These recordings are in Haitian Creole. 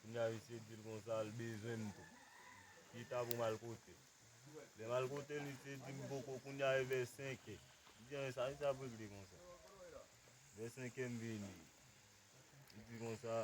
Kounya misye dil konsa l bezwenm tou. Chita poum al kotel. Lem al kotel misye dim poko kounya e vè 5 è. M di anwen sa misye ap regle konsa. Vè 5 è m vini. Li di konsa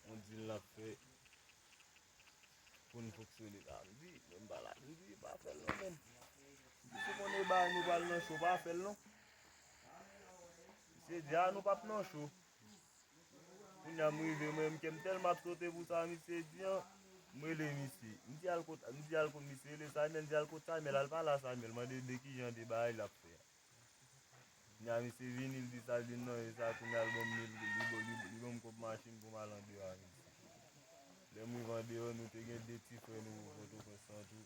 on dil nap fè poun foksyone la. M di menm pa la. M di pa fèl non menm. M di se konn e bagay nou pral nan cho pa fèl non. Misye di a nou pap nan cho. Kounya m rive mwen menm kem telman ap sote pou sa misye di an, m rele misye, m di al kot, m di al kot misye rele Saymèl, m di al kot Saymèl al pale a Saymèl mande de kijan de bagay lap fè a. Kounya misye vini l di sa l di m nan e sa kounya l banm mil goud, li banm li banm kòb machin pou m al andeyo a misye. Lè m rive andeyo nou te gen 2 ti frè nou pòtoprens lan tou.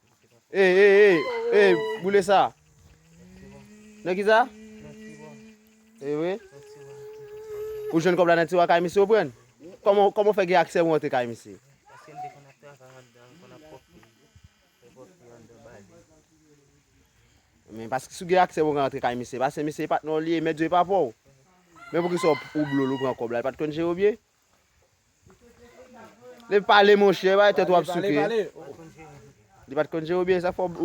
Hey hey hey hey boule sa. Nan ki sa? Hey we. Ou jwenn kòb la nan tiwa kay misye ou pran? Koman koman fè gen aksè ou antre kay misye? Aksè m te konn ap travay andan, konn ap pòp fi. Te pòp fi andan bali. Men paske sou gen aksè ou ka antre kay misye, paske misye e patnè ou li e mèt yo e pa pou ou. Men pou ki sa ou blol ou pran kòb la, e pat konn jere ou byen? Lè pale monchè, bay tèt wap souke. Li pat konn jere w byen sa fò.